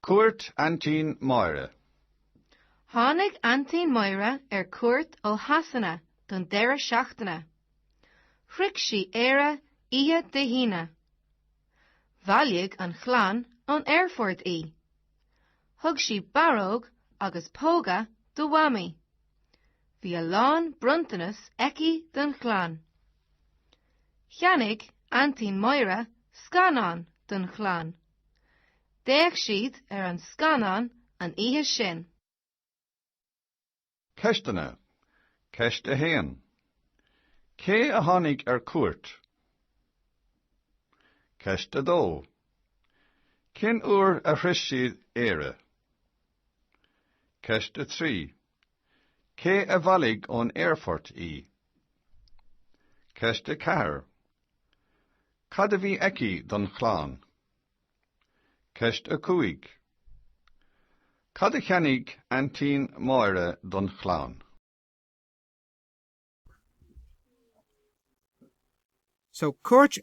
Cuairt Aintín Máire. Tháinig Aintín Máire ar cuairt ó Shasana don deireadh seachtaine. Shroich sí Éire oíche Dé hAoine. Bhailigh an chlann ón aerfort í. Thug sí barróg agus póga do Mhamaí. Bhí a lán bronntanas aici don chlann. Cheannaigh Aintín Máire scannán don chlann. D'fhéach siad ar an scannán an oíche sin. Ceisteanna, Ceist 1. Cé a tháinig ar cuairt? Ceist 2. Cén uair a shroich siad Éire? Ceist 3. Cé a bhailigh ón aerfort í? Ceist 4. Cad a bhí aici don chlann? Ceist 5. Cad a cheannaigh Aintín Máire don chlann? So cuairt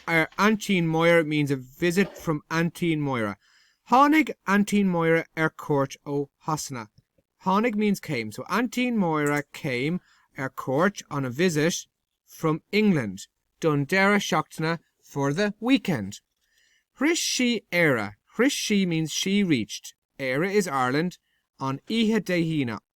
ar Aintín Máire means a visit from Aintín Máire. Tháinig Aintín Máire ar cuairt ó Shasana. Tháinig means came. So Aintín Máire came ar cuairt on a visit from England don deireadh seachtaine for the weekend. Shroich sí Éire. Shroich sí means she reached Éire is Ireland on oíche Dé hAoine